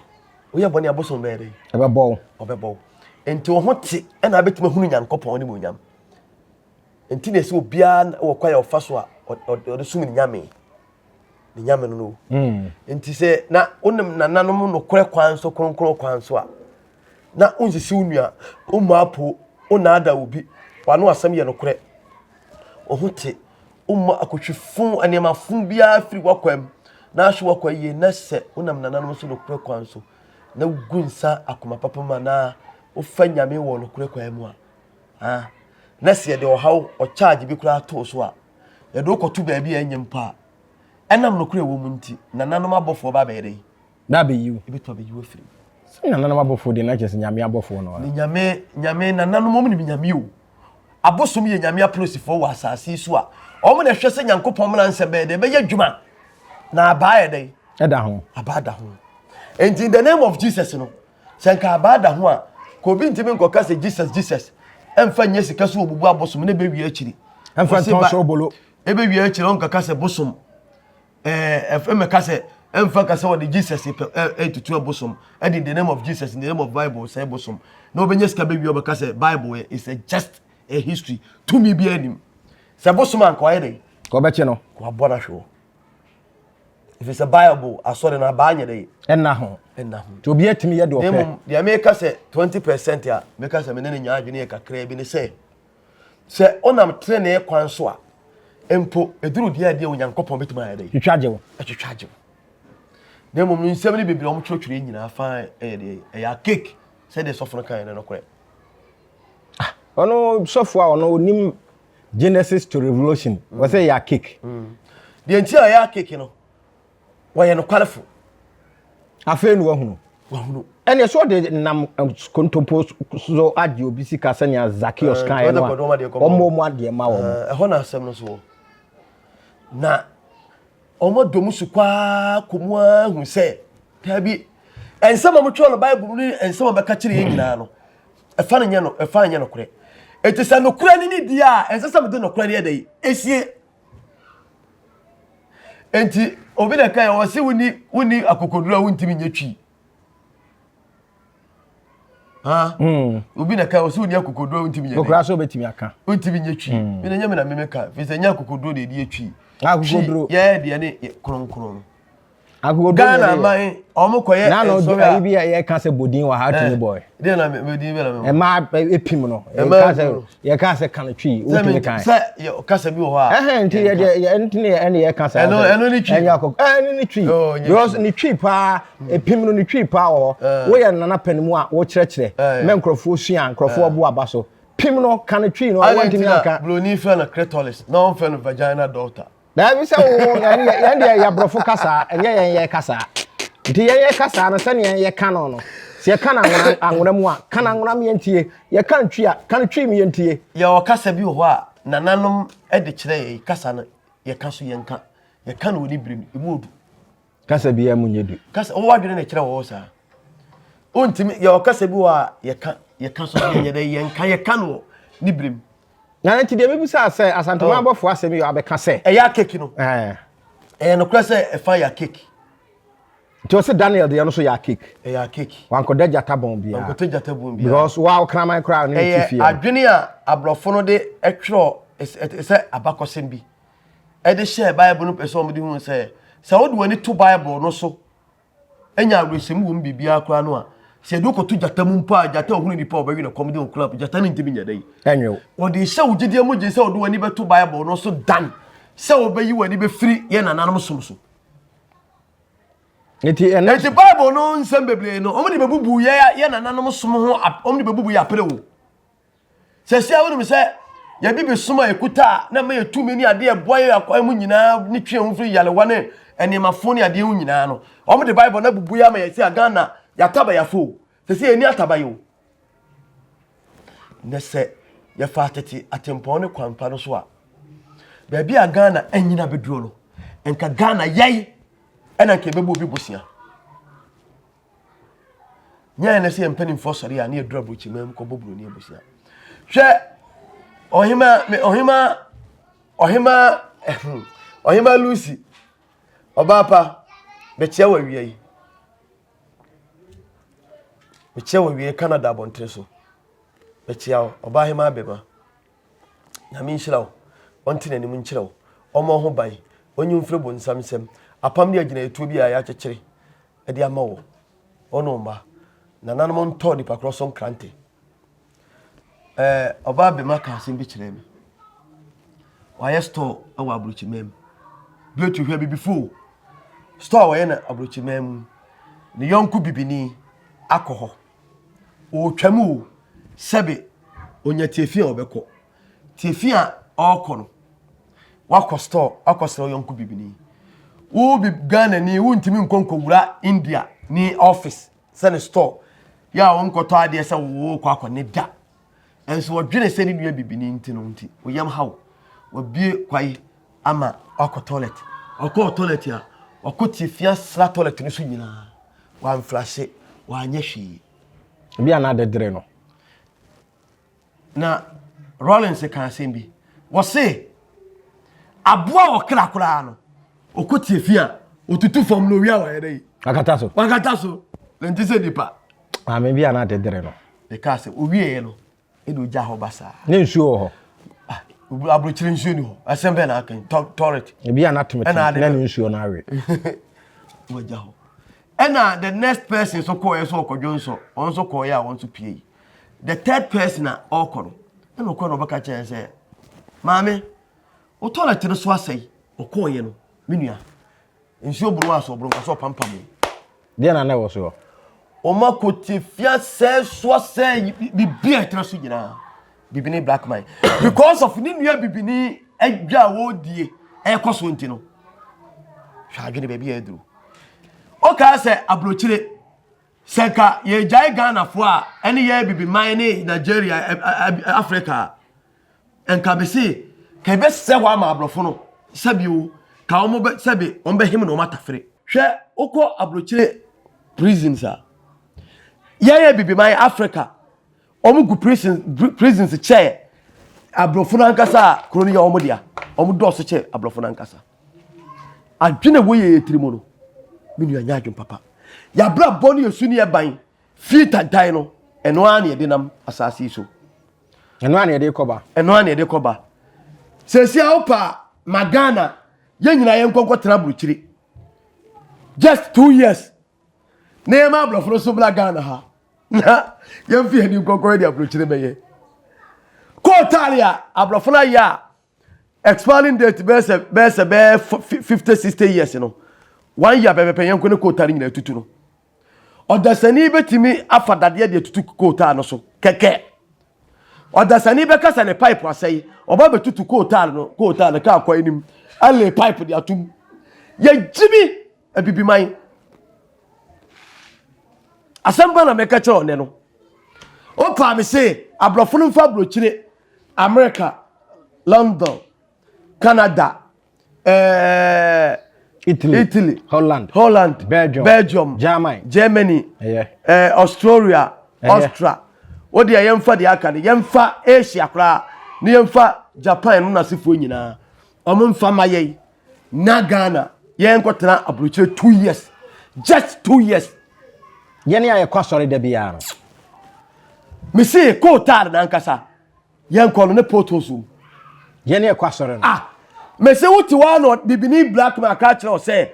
woyɛ bɔne abosom bɛyɛ dɛn ɛbɛbɔw ɔbɛbɔw nti wo ho te ɛna abɛtumi ahunu nyankopɔn ne mu nyam nti na ɛsɛ obiara wɔ kwa yɛ ɔfa so a ɔde som ne nyame ne nyame no no hmm. nti sɛ na wonim nananom nokorɛ kwan so kronkron kwan so a na wonsisi wo nua wommu apo wonaada wo bi wano asɛm yɛ nokorɛ ɔho te womma akotwi fo nneɛma fo biara firi wakwam na ahwe wakwa yie na sɛ wonam nananom so nokorɛ kwan so na wogu nsa akoma papa mu anaa wofa nyame wɔ nokorɛ kwan mu a na sɛ yɛde ɔhaw ɔkyaagye bi koraa too so a yɛde wo kɔto baabi a ɛnyɛ mpo a, ɛnam nokorɛ a ɛwɔ mu nti, nananom abɔfoɔ ba bɛyɛ dɛn? Na abɛyi wo. Ɛbɛtumi abɛyi wo afiri mu. Sɛ nananom abɔfoɔ deɛ na kyerɛ sɛ Nyame abɔfoɔ no ara. Ne Nyame, Nyame, nananom wɔn nim Nyame o. Abosom yɛ Nyame apolisifoɔ wɔ asase yi so a wɔn na ɛhwɛ sɛ Nyankopɔn mmra nsɛm bɛyɛ dɛn? Ɛbɛyɛ adwuma. Na abaa yɛ dɛn? Ɛda ho. Abaa da ho. Enti in the name of Jesus no, Sɛ nka abaa da ho a, ka obi ntimi nkɔka sɛ Jesus Jesus ɛmfa nyɛ sika so obubu abosom ne bɛwie akyiri. Ɛmfa ntɔn so obolo. Ɛbɛwie akyiri ɔnkaka sɛ bosom ɛmɛka sɛ ɛmfa ka sɛ wɔde Jesus ɛtutu abosom ɛde in the name of Jesus in the name of Bible sɛ bosom na ɔbɛnya sika bɛwie ɔbɛka sɛ Bible is a just a history tumi bi anim sɛ bosom anka ɔyɛ dɛ kɔbɛkye no kɔabɔ no ahwe wɔ ɛfiri sɛ bible asɔre no abaa nyɛ dɛ ɛna ho ɛna ho nti obi atumi yɛ deɛ ɔpɛ mmom deɛ meka sɛ 20 percent a meka sɛ mene ne nyaa adwene yɛ kakraa bi ne sɛ sɛ ɔnam tenenee kwan so a mpo ɛduru deɛ adeɛ onyankopɔn bɛtumi ayɛ dɛ twitwa agye wo ɛtwitwa agye wo na mmom no nsɛm no bebree ɔmo twerɛtwerɛ nyinaa fa ɛyɛ deɛ ɛyɛ akek sɛdeɛ sɔfo no kaeɛ no nokorɛ ah, ɔno sɔfo a ɔno onim genesis to revolution mm. wɔ sɛ yɛ cake mm. deɛ nti a yɛ cake no wɔyɛ nokwarefo afei na wahunu wahunu ɛnna ɛsɛ ɔde nam kontompo so agye obi sika sɛnea zakios kan yɛ no a wɔn mu adeɛ ma wɔn. ɛhɔ na asɛm no so wɔ na wɔn adɔ mu so kwaa kɔ mu ara hu sɛ taabi nsɛm a wɔtwerɛ no bible mu ne nsɛm a wɔbɛka kyerɛ yɛn nyinaa no ɛfa no nyɛ no ɛfa nyɛ nokorɛ ɛti sɛ nokorɛ no ne die a ɛnsɛ sɛ mede nokorɛ no yɛ dɛ ɛsie ɛnti obi na ɛka yɛ wɔ se woni woni akokoduro a wontimi nyɛ twi hmm. obi na ɛka yɛ wɔ se woni akokoduro a wontimi nyɛ nokorɛ so wobɛtumi aka wontimi nyɛ twi hmm. mene nyɛ me na memeka firi sɛ nyɛ akokoduro na ɛdi yɛ twi akokoduro yɛyɛ deɛ ne kronkron ghana man ɔmo kɔ yɛ nsɔre a. na bi yɛ ka sɛ bodin wɔ ha tumi eh, bɔ yɛ. na bodin bɛ na mi. ɛmaa epim no yɛ ka sɛ kan twi o tumi kan. sɛ yɛ kasa bi wɔ hɔ a. ɛhɛn nti yɛ deɛ yɛ nti ne yɛ ɛne yɛ kasa. ɛno ɛno ni twi. ɛnyɛ akɔ ɛne ni twi. Oh, because ni twi paa hmm. epim no ni twi paa wɔ hɔ eh. woyɛ nana pɛn mu a wokyerɛkyerɛ eh, mɛ nkorɔfoɔ sua nkorɔfoɔ bo aba so pim no kan twi no ɔwɔ ntumi anka. broni fɛ no clitoris na ɔn fɛ no vagina daughter. Daabi sɛ wo yɛn deɛ yɛ borɔfo kasaa ɛnyɛ yɛn yɛ kasaa nti yɛn yɛ kasaa no sɛnea yɛn yɛ ka no no sɛ yɛka no anwona mu a ka no anwona mu yɛntie yɛka no twi a ka no twi mu yɛntie. Yɛwɔ kasa bi wɔ hɔ a nananom de kyerɛ yɛn kasa no yɛka so yɛnka yɛka no wɔ ne bere mu emu odu. Kasa biara mu nyɛ du. Kasa wɔn adwene na ɛkyerɛ wɔn saa. Wontumi yɛ ɔkasa bi wɔ a yɛka yɛka so yɛ yɛ dɛ yɛnka yɛka no ne birim. Na nti deɛ mebu sɛ asɛ asantoma abɔfoɔ asɛm yɛ abɛka sɛ. Ɛyɛ akeki no. Ɛɛ. Ɛyɛ nokorɛ sɛ ɛfa yɛ akeki. Nti ɔsɛ Daniel deɛ no so yɛ akeki. Ɛyɛ akeki. Wankɔda gyata bɔn biara. Wankɔda gyata bɔn biara. Because wa ɔkraman koraa ne ne ti fie. Ɛyɛ adwene a aborɔfo no de ɛtwerɛ ɛsɛ abakɔsɛm bi. de hyɛɛ Bible no pɛ sɛ wɔde hu sɛ, sɛ wode w'ani to Bible no so nya awerɛhyɛmu wɔ mu biribiara koraa no a, sɛ yɛde wokɔto gyata mu mpo a, gyata a ɔhunu nipa a ɔbɛwe no kɔm de wo koraa, gyata no ntumi nyɛ dɛ. Ɛnwew. Wɔde hyɛ wo gyidie mu gye sɛ wode w'ani bɛto Bible no so dan sɛ wobɛyi w'ani bɛfiri yɛn nananom som so. Eti ɛnɛ. Eti Bible no nsɛm bebree no, wɔn de bɛbubu yɛ yɛ nananom som ho, wɔn de bɛbubu yɛ apere wo. Sɛsia wonim sɛ yɛbibi som a ɛkuta a na ma yɛ tumi ne adeɛ ɛboa yɛ akwan mu nyinaa ne twe ho firi yarewa ne ɛnneɛmafo ne adeɛ ho nyinaa no wɔn de bible na bubu yɛ ama yɛ sɛ agana yɛataba yɛafo sɛ sɛ yɛni ataba yɛ o na sɛ yɛfa atete atempɔn ne kwampa no so a baabi a ghana anyina bɛduo no nka ghana yɛe ɛna nka ɛbɛbɔ obi bosea Nyɛ ɛnɛ sɛ yɛn mpanimfoɔ sɔre a ne yɛduru aburokyiman mu kɔbɔ buroni abusua. Hwɛ ɔhema ɔhema ɔhema ɔhema Lucy ɔbaa pa bɛkyia wɔ awia yi. Bɛkyia wɔ awia yi Canada abɔntere so. Bɛkyia wo ɔbaa hema abɛma. Nyame nhyira wo. Ɔnte n'anim nkyerɛ wo. Ɔmmɔ ho ban. Ɔnyi mfiri bonsam nsam. Apam ne agyinaeɛtuo bi a yɛakyekyere de ama wɔn, wɔn ne wɔn mma. Nananom ntɔ nipa korɔ so nkrante. Ɛɛ ɔbaa bɛma ka asɛm bi kyerɛ me. Wɔayɛ store wɔ aburokyimaa mu. Biotu hwɛ bibifo o. Store a wɔyɛ no aburokyimaa mu. Ne yɔnko bibini akɔ hɔ. Ɔretwam o. Sɛbe onya tiafi a ɔbɛkɔ. Tiafi a ɔrekɔ no, wakɔ store akɔsrɛ ɔyɔnko bibini. Wo bi Ghana ni wontumi nkɔ nkɔwura India ne office sɛ ne store yɛ a wonkɔtɔ adeɛ sɛ wokɔ akɔ ne da. Nso wɔdwene sɛ ne nua bibini nti no nti woyam ha wo. Wabie kwae ama wakɔ toilet. Ɔkɔɔ toilet a ɔkɔ tiafi asra toilet no so nyinaa. Wamfrase, wanyɛ hwee. Ebi a na adedere no. na rollins ka asɛm bi wɔse aboa wɔ kra koraa no ɔkɔ tie fi a ɔtutu fam no owia wayɛ dɛ yi wakata so wakata so na nti sɛ nipa maame bi a na ade dere no ɛka sɛ owieɛ no ɛde ogya hɔ ba saa ne nsuo wɔ hɔ ah, aburokyire nsuo ni hɔ asɛm bɛɛ na akan tɔret ebi a na temetem na ne nsuo no awe wagya hɔ ɛna the next person so kɔɔɛ so ɔkɔdwo nso wɔn nso kɔɔɛ a wɔn nso pie the third person a ɔkɔ no ɛna ɔkɔ na ɔbɛka kyerɛ sɛ maame wo toilet no so asɛe ɔkɔɔyɛ no me nua nsuo boro aso ɔboro nka sɛ ɔpampam deɛ na na ɛwɔ soɔ wɔn akɔte fia sɛe so asɛe biribi a ɛtena so nyinaa bibini black man because of ne nua bibini adwa a wɔredie ɛkɔ so nti no hwɛ adwene baabi a aduru ɔkaa sɛ aburokyire Sɛ nka yɛgyae Ghanafoɔ a ɛne yɛ Abibiman ne Nigeria Africa a, nka mese ka yɛbɛsɛ hɔ ama aborɔfo no sɛbi o, ka wɔn bɛ sɛbi wɔn bɛhem na wɔn atafere. Hwɛ wokɔ aburokyire prisons a, yɛn Abibiman Africa wɔn gu prison prisons kyɛ aborɔfo no ankasa a kuro no yɛ wɔn dea, wɔn dɔɔso kyɛ aborɔfo no ankasa. Adwene a woyɛ yɛ tiri mu no, me nua nyɛ adwene papa. Yɛabrabɔ ne yɛ su ne yɛ ban fie tantan no, ɛno ara na yɛde nam asase yi so. Ɛno ara na yɛde kɔba. Ɛno ara na yɛde kɔba. Sɛsi a wopa ma Ghana, yɛn nyinaa yɛn nkɔnkɔ tena aburukyiri. Just two years. Na yɛn ma aborɔfo no so bla Ghana ha. Na yɛn fi yɛn nkɔnkɔ yɛ de aburukyiri bɛyɛ. Kɔɔtaale a aborɔfo no ayɛ a Expiring date bɛyɛ sɛ bɛyɛ sɛ bɛyɛ fifty sixty years no one year pɛpɛpɛ yɛn ko ne kootaa no nyinaa tutu no ɔdasani bɛtumi afa dadeɛ deɛ tutu kootaa no so kɛkɛ ɔdasani bɛka sɛ ne pipe asɛe ɔba bɛtutu kootaa no kootaa no kaa kɔ anim ale pipe de atom yɛgyimi abibiman asɛm ba na mɛka kyerɛ ɔnɛ no ɔpaa me se aborɔfo no mfa aburokyire America, London, Canada, eh, Italy, Italy, Holland, Holland, Belgium, Belgium, Germany, Germany, yeah. eh, Australia, yeah. Austria. Wo deɛ yɛmfa deɛ aka no yɛmfa Asia koraa ne yɛmfa Japan no nasefoɔ nyinaa ɔmo mfa ma yɛn na ghana yɛn kɔ tena aburukyire two years just two years. yɛn a yɛkɔ asɔre da biara no. mesi kootaare nankasa yɛn kɔ no ne poto so. yɛn a yɛkɔ asɔre no. ah mesi wo te hɔ ano bibini black man aka kyerɛ sɛ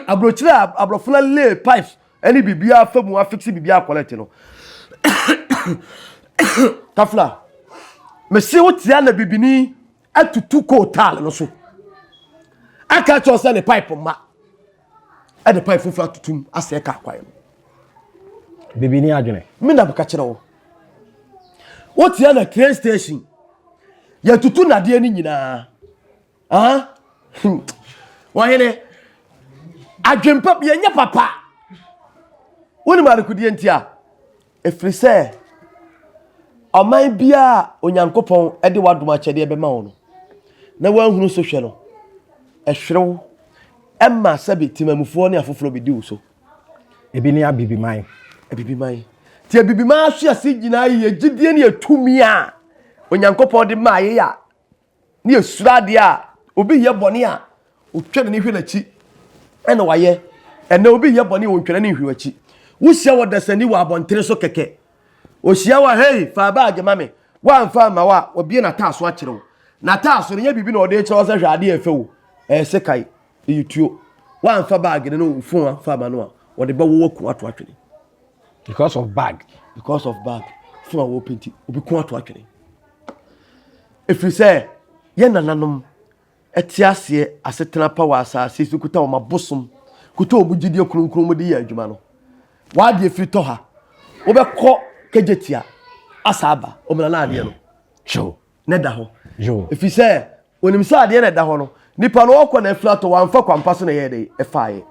aburukyire a aburofo na lay pipes ɛne bibi afa mu afiksi bibi akɔlɛte no kafla mesi wo te ana bibini atutu coal tar no so aka kyerɛ sɛ ne pipe mma ɛde pipe foforɔ atutum asɛe kaa kwan no bibi ne adwene me na meka kyerɛ wo wotia na train station yɛtutu nadeɛ no nyinaa ah wɔhene adwempa yɛnyɛ papa wonim adekodeɛ nti a Ɛfiri sɛ ɔman biara a Onyankopɔn de w'adom akyɛdeɛ bɛma wo no, na woanhunu so hwɛ no, ɛhwere wo, ɛma sɛbe temamufoɔ ne afoforɔ bɛdi wo so. Ebi ne abibiman. Abibiman. Nti abibiman ahyɛse nyinaa yɛ gyidie ne yɛ tumi a Onyankopɔn de maa yɛ a Ne yɛsuro adeɛ a obi yɛ bɔne a ɔtwa n'ani hwɛ n'akyi ɛna wayɛ ɛnɛ obi yɛ bɔne a ɔntwa n'ani nhwɛ w'akyi wohyia wɔ dasani wɔ abɔntene so kɛkɛ ɔhyia wɔ hei fa baage ma me woamfa mma wo a ɔbie n'ataaso akyerɛ wo n'ataaso no nyɛ biribi na ɔde kyerɛ wo sɛ hwɛ adeɛ ɛfɛ wo ɛyɛ sekan ɛyɛ tuo woamfa baage no ne wo fon amfa ma no a ɔde bɛwɔ w'aku ato atwene because of bag because of bag fo a wɔpɛ nti obi ko ato atwene ɛfiri sɛ yɛ nananom ɛte aseɛ asetena pa wɔ asase so kuta wɔn abosom kuta wɔn gyidie kronkron mu de yɛ adwuma no wadeɛ firi tɔ ha wobɛkɔ kagyatia asa aba wɔn nana adeɛ no kyɛw na ɛda hɔ ɛfiri sɛ onim sɛ adeɛ na ɛda hɔ no nipa no ɔkɔ na afiri atɔ wamfa kwampa so na ɛyɛ dɛ ɛfaeɛ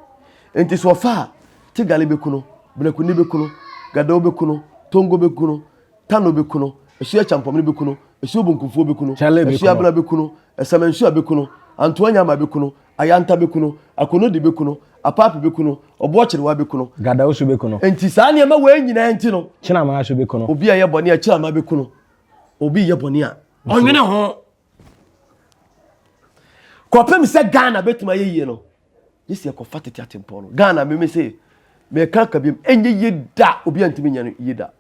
nti so ɔfa a tigale bɛku no benakuni bɛku no gadao bɛku no tongo bɛku no tano bɛku no ɛsuo akyampɔmene bɛku no ɛsuo bonkumfoɔ bɛku no ɛsuo abena bɛku no ɛsɛmɛnsuo bɛku no antoa nyama bɛku no ayanta bɛku no akonodi bɛku no apaapi bɛku no ɔboɔ kyerewa bɛku no gadao so bɛku no nti saa nneɛma wei nyinaa nti no kyenama so bɛku no obi a ɛyɛ bɔne a kyenama bɛku no obi yɛ bɔne a ɔnwene ho kɔpem sɛ ghana bɛtumi ayɛ yie no gye sɛ yɛkɔfa tete atempɔn no ghana meme se meka ka biam ɛnyɛ yie da obi antumi nyɛ no yie da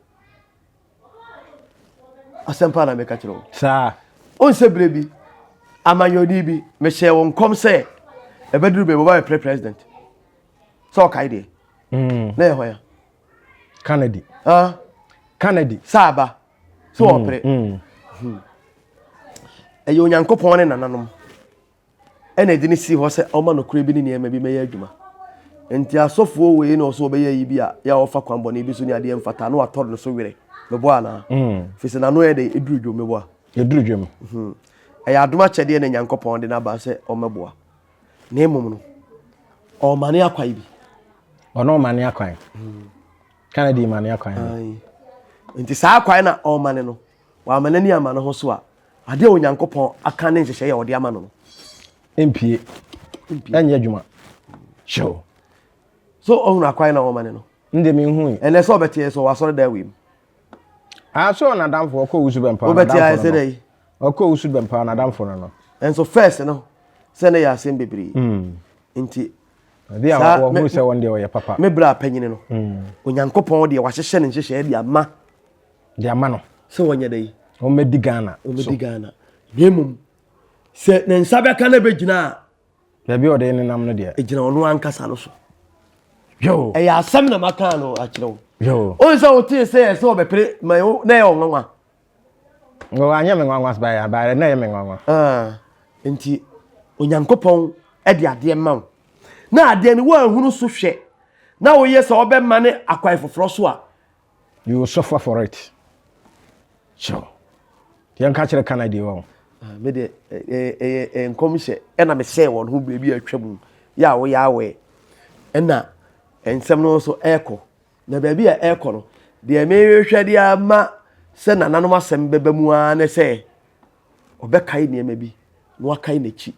asɛm paa na meka kyerɛ wo saa ɔn sɛ berɛ bi amanyɔni bi mehyɛɛ wo nkɔm sɛ ɛbɛduru bɛ wɔba bɛprɛ president sɛ ɔkae deɛ mm. na yɛ hɔ ya kennedy ah. kennedy sɛ aba so mm, ɔpere mm. Hmm. ɛyɛ onyankopɔn ne nananom ɛna ɛde ne si hɔ sɛ ɔma nokorɛ bi ne nneɛma bi mɛyɛ adwuma nti asɔfoɔ wei na ɔso ɔbɛyɛ yi bi a yɛ a ɔfa kwan bɔne bi so ne adeɛ mfata na watɔre no so werɛ meboa anaa mm. firi sɛ n'ano yɛ dɛ ɛduru dwom meboa ɛduru dwom hmm. ɛyɛ adom akyɛdeɛ na nyankopɔn de no aba sɛ ɔmɛboa na mmom no ɔmane akwan bi ɔne ɔmane akwan hmm. Ka na de ma ne akwan no. Nti saa akwan na ɔma ne no. Wama n'ani ama ne ho so a, adeɛ a Onyankopɔn aka ne nhyehyɛeɛ a ɔde ama no no. Mpie. Ɛnyɛ adwuma. Hyɛw. So ɔhunu akwan na ɔma ne no. Nde mi nhu yi. Ɛnɛ sɛ ɔbɛteɛ sɛ ɔwasɔre da awim. Ah, so ɔnadamfo ɔkɔ wusu bɛmpa ɔnadamfo no. Ɔbɛteɛ ayɛ sɛ dɛ yi. Ɔkɔ wusu bɛmpa ɔnadamfo no no. Ɛnso first no sɛ ne yɛ asɛm bebree. Mm. Nti Ebi a Saa, wɔn me- ho sɛ wɔn deɛ wɔyɛ papa. me berɛ a panyini no onyankopɔn deɛ wahyehyɛ ne nhyehyɛeɛ de ama De ama no. sɛ wɔnyɛ dɛ yi Wɔn bɛdi Ghana. so. wɔmɛdi ghana na mmom sɛ ne nsa bɛka no bɛgyina a Baabi a ɔde nenam no deɛ. ɛgyina ɔno ankasa no so Yo. ɛyɛ asɛm na maka no akyerɛ wo Yo. wohu sɛ wotee sɛ yɛ sɛ ɔbɛpere ma wo na ɛyɛ ɔnwanwa Nko anyɛ me nwanwa by a by na ɛyɛ me nwanwa. Ah, nti Onyankopɔn de adeɛ ma wo na adeɛ no woanhunu so hwɛ na woyɛ sɛ ɔbɛma ne akwan foforɔ so a. You will suffer for it. Sure. Yɛn ka kyerɛ kana di wɔn. Ah, me de ɛyɛ nkɔmhyɛ ɛna me sɛ wɔn ho baabi atwa mu yɛ a woyɛ awɛ ɛna nsɛm no nso ɛkɔ Na baabi a ɛrekɔ no, deɛ merehwɛ de ama sɛ nananom asɛm bɛba mu ara ne sɛ ɔbɛkae nneɛma bi na wakae n'akyi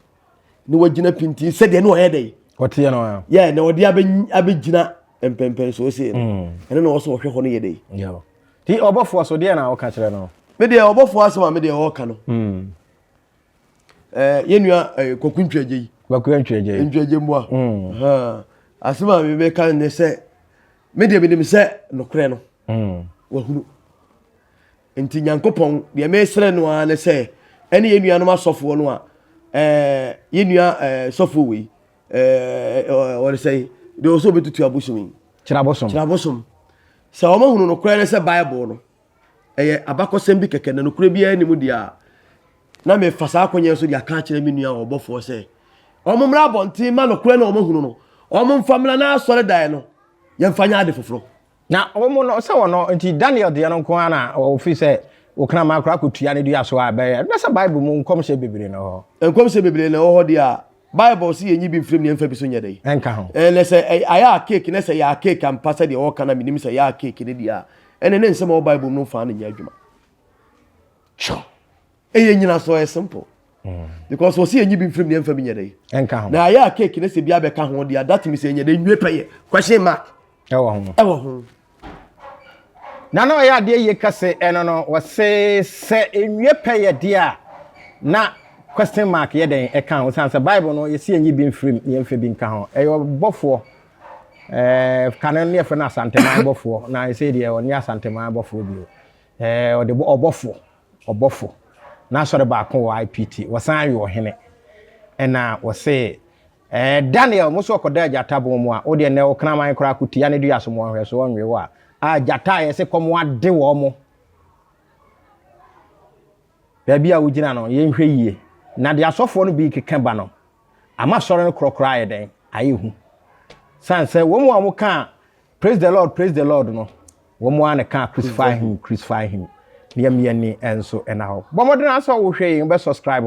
na wagyina pintinn sɛdeɛ ne ɔyɛ dɛn ɔteɛ no a yɛ na ɔde abɛgyina mpɛmpɛn so ɔsɛ no mm. ɛno na ɔsɛ ɔhwɛ hɔ no yɛ dɛn nti ɔbɔfoɔ so deɛ na ɔka kyerɛ no medeɛ ɔbɔfoɔ asɛm a medeɛ ɔka no mm. ɛɛ yɛn nua ɛɛ kɔkun ntwɛgye yi. kɔkun ntwɛgye. ntwɛgye mboa. Mm. asɛm a mi bɛ ka ne sɛ mi deɛ mi nim sɛ nokorɛ no. Mm. wahunu nti nyankopɔn deɛ mi srɛ no ara ne sɛ ɛne yɛn nuanom asɔfoɔ no a ɛɛ yɛn nua ɛɛ sɔfoɔ wei ɛɛ ɔresɛ yi deɛ ɔsɛ obetutu abosom yi. kyerɛ abosom kyerɛ abosom sɛ wɔn ahunu nokorɛ ne sɛ bible no. ɛyɛ abakɔsɛm bi kɛkɛ na nokorɛ biara nni mu deɛ a na mefa saa akɔnyɛ nso de aka akyerɛ me nua a ɔbɔfoɔ sɛ wɔn mmra abɔnten ma nokorɛ na wɔn ahunu no wɔn mfa mmra na asɔre dan no yɛmfa nyɛ ade foforɔ na wɔn no sɛ wɔn no nti Daniel deɛ no nko ara na wɔfiri sɛ wɔkra ma akora akɔtua ne dua so a ɛbɛyɛ na sɛ Bible mu nkɔmhyɛ bebree na ɛwɔ hɔ nkɔmhyɛ bebree na ɛwɔ hɔ deɛ a Bible se yɛnyi bi mfiri mu na yɛmfa bi so nyɛ dɛn? Ɛnka ho. Ɛɛ, na sɛ ɛy, ayɛ a cake, na sɛ ɛyɛ a cake ampa sɛdeɛ wɔreka na menim sɛ ɛyɛ a cake no deɛ a, ɛnneɛ ne nsɛm a ɛwɔ Bible mu no mfaa no nyɛ adwuma. Sure. Ɛyɛ nyinasoɔ, ɛyɛ simple. Mm. Because wɔsi yɛnyi bi mfiri mu na yɛmfa bi nyɛ dɛn? Ɛnka ho. Na ayɛ a cake no sɛ bi abɛka ho deɛ a, that means ɛnyɛ dɛn, nwie pɛyɛ. Question mark. Ɛwɔ ho. Ɛwɔ ho. Na na ɔyɛ adeɛ yie kɛse ɛno no wɔse sɛ nwie pɛ yɛ deɛ a na question mark yɛ dɛn ɛka ho sane sɛ bible no yɛsi yɛnyi bi mfirim na yɛmfa bi nka ho ɛyɛ ɔbɔfoɔ ɛɛ kane no ne yɛfrɛ no asanteman bɔfoɔ na ɛsɛ deɛ ɔne asanteman bɔfoɔ bio ɛɛ ɔde ɔbɔfo ɔbɔfo na asɔre baako wɔ ipt wɔsan ayɛ ɔhene ɛna wɔse Eh Daniel mo so ɔkɔda agyata bon mu a wo deɛ nɛ okraman koraa ko tia ne dua so mo ɔnhwɛ so ɔnwe wo a ah gyata a yɛse kɔm ade wɔn mo baabi a wo gyina no yɛ nhwɛ yie na deɛ asɔfoɔ no bi keka ba no ama sɔre no korɔkorɔ ayɛ dɛn ayɛ hu san sɛ wɔn a wɔn ka Praise the Lord, praise the Lord no. Wɔn mu ana ka crucify him, crucify him. Ne yɛn yɛn ni nso ɛna hɔ. Bɔ mmɔden asɔ wohwɛ yɛn bɛ subscribe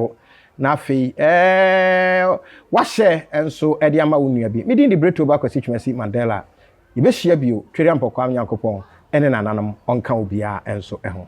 na afei ɛɛ wahyɛ nso ɛde ama wo nua bi. Me din de Breto ba kwasi twumasi Mandela. Yɛbɛhyia bio twere ampɔkwa Nyankopɔn ɛne nananom ɔnka obiara nso ɛho.